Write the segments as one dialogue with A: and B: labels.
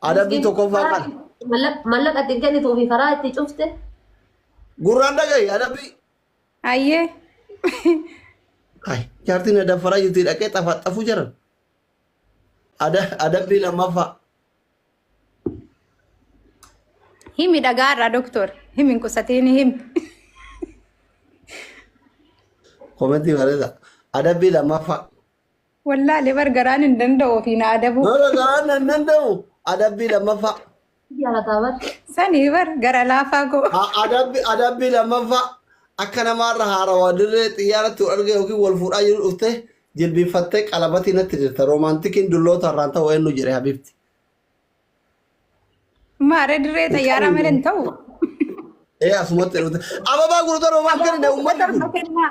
A: Adabbii tokkoffaa kana. Mallaqa ittiin
B: kennituu fi karaa itti cufte. Gurraan
A: dhagahi adabbii. Ayyee. Hai, jaartiin na daffaraa jirti dhaqee xafaxafuu jiran. Ada- Adabbii lammaffaa.
C: Himi dhagaarraa doktor. Himi hin qusatiin himi.
A: Komentii bareeda. Adabbii lammaffaa. Wallaale
C: bar garaan hin danda'u ofii na adabuu. Bara garaan nan
A: danda'u adabbii lammaffaa. Jaalataa bar.
B: Sanii bar
C: gara laafaa koo. A- Adabbi adabbii
A: lammaffaa akka namaarra haarawaa dirree xiyyaaratti wal argee yookiin wal fuudhaa jiru dhuftee jilbiiffattee qalabatii natti dirta roomaantikiin dulloota irraan ta'u eenyu jedhe habiibti.
C: Maaree dirree xayyaaraa malee hin ta'u.
A: Ee asumatti dhufte. Ababaa gurgurtaa roomaantikiin uummanni kun. Kennaa.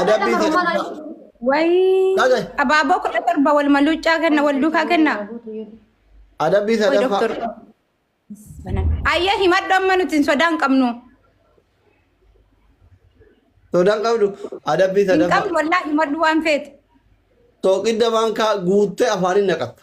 C: Adabbii
A: jedhu isaa.
C: Wayii Dhagaye.
A: abaaboo kudha torba
C: wal maluuccaa kenna wal duukaa kenna.
A: Adabbii Wayi sadaffaa. doktor.
C: Ayyee himadhu amma nuti hin sodaan qabnu.
A: Sodaan qabdu adabbii Hin sadaffaa. qabnu wallaahi
C: himadhu
A: waan
C: feete. Sooqidda
A: maankaa guuttee afaaniin naqatta.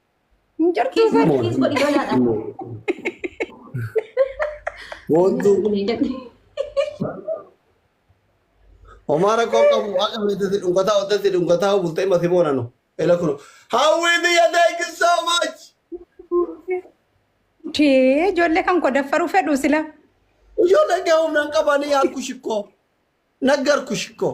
C: Hin jirtu Kiis bar. godhi,
B: kiis
A: godhi lolaadha. Boontuu homaa rakkoo qabu waaqa beekte dhungataa ottatti dhungataa bultee mati boonanu. Ela kunu. Hawwii biyya thank you so much.
C: Tee ijoollee kan koo daffaruu fedhu sila. Ijoolleen
A: kee humna hin qabanii harku shikkoo. Naggar ku shikkoo.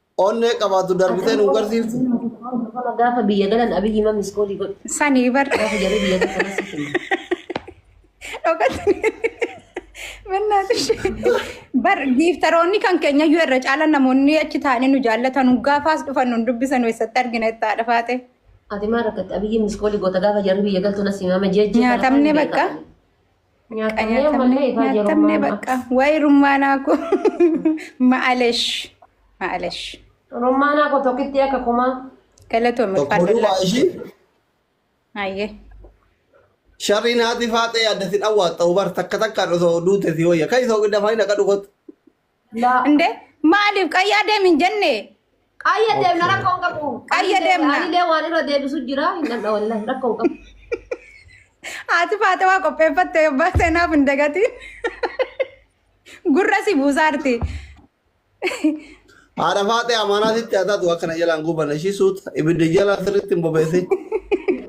C: Onnee
A: qabaatu darbitee nu garsiiftu. Kana gaafa
B: biyya galan abiyyi ma miskoolii godhu. Sanii bar. Gaafa
C: jarri biyya galan asii
B: kennu.
C: Dhokatanii. Bannaatis. Bar giiftaroonni kan keenya iyyuu irra caala namoonni achi taa'anii nu jaallatan gaafaas dhufan nu dubbisan eessatti argina itti haadha faate. Ati maal rakkatti
B: abiyyi miskoolii goota gaafa jarri biyya galtu na simama jeejjii. Nyaatamne bakka.
C: Nyaatamnee ammallee ifaa Nyaatamne jirummaa ma'a. bakka. Waa'ee rummaanaa koo.
B: Ma'alesh. Ma'alesh.
C: Rummaanaa
B: koo tokkitti akka kumaa.
C: Galatoome Tokko farda duuba laata.
A: ishii
C: Hayyee.
A: sharrii naati faaxee adda si dhawwaatta ubar takka takkaan osoo duute si wayya. Kan isa ogi dafaa hin akka dhugotu. Laa.
C: Inde maaliif qayyaa deemin jenne Qayya deemna
B: rakkoo hin qabu. Qayya deemna. Anilee
C: waan irra deebisu
B: jira. Hin dhandha wallahi rakkoo
C: hin qabu. haati faatawaa qopheeffatte yobbaa seenaaf hin dagatiin gurra si buusaarti.
A: Haadha faaxee amaanaa sitti haa taatu akkana jalaan gubanne ishii suuta ibidda jalaa sirriitti hin bobeessin.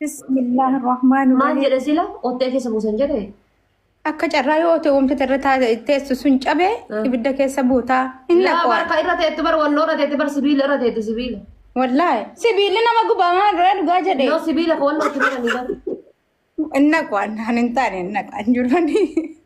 A: Bismillah
C: ar-Rahmaan Maal ar-Rahiim. jedhe sila
B: ottee
C: keessa
B: buusan jedhe? Akka carraa
C: yoo otee wanta irra taa- teessu sun cabe Mm. ibidda keessa buutaa hin Laa naqu. barka irra teetti
B: bar
C: walloo
B: irra teetti bar sibiila irra teetti sibiila. Wallaahi
C: sibiilli nama gubamaa irraa dhugaa jedhe Yoo sibiila ka walloo itti
B: godhani
C: bar. hin naqu waan hin taane hin naqu hin jirani.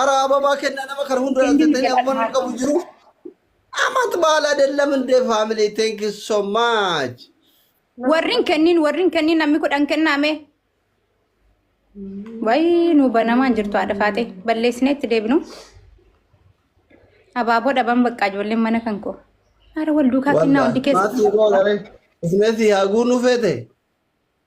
A: Ara ababaa kennaa nama kana hunda Kenni dhalatee jedhan afaan hin haadha. qabu jiru. Amat baala adeellam indee faamilii thank you so much. Warrin
C: kenniin warrin kenniin namni kudhan kennaame. Wayii nu banamaan jirtu haadha faatee balleessinee itti deebinu. Abaaboo dhaban baqqaa ijoolleen mana kan koo. Ara wal duukaa kennaa hundi keessa. Maatii boolaree.
A: Ismeetii haa guunuu feete.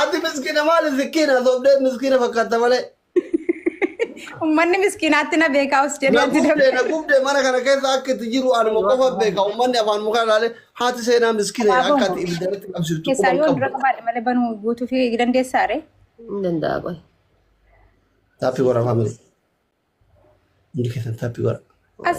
C: Ati
A: miskiina maali miskiina sobdee miskiina fakkaata malee.
C: Ummanni miskiinaatti na beekaa os jedhee Na ati gubde na dabale. gubde mana kana
A: keessa akka itti jiru anuma qofa beeka ummanni afaan mukaa ilaalee haati seenaa miskiina Abaaboo akka ati ibiddatti qabsiftu keessaa quban yoo qabdu. dura qabaadhe
C: malee
A: banuu
C: guutuu fi dandeessaa ree? Hin danda'a qoy.
A: Taappi wara faamili. Hundi keessan taappi wara. As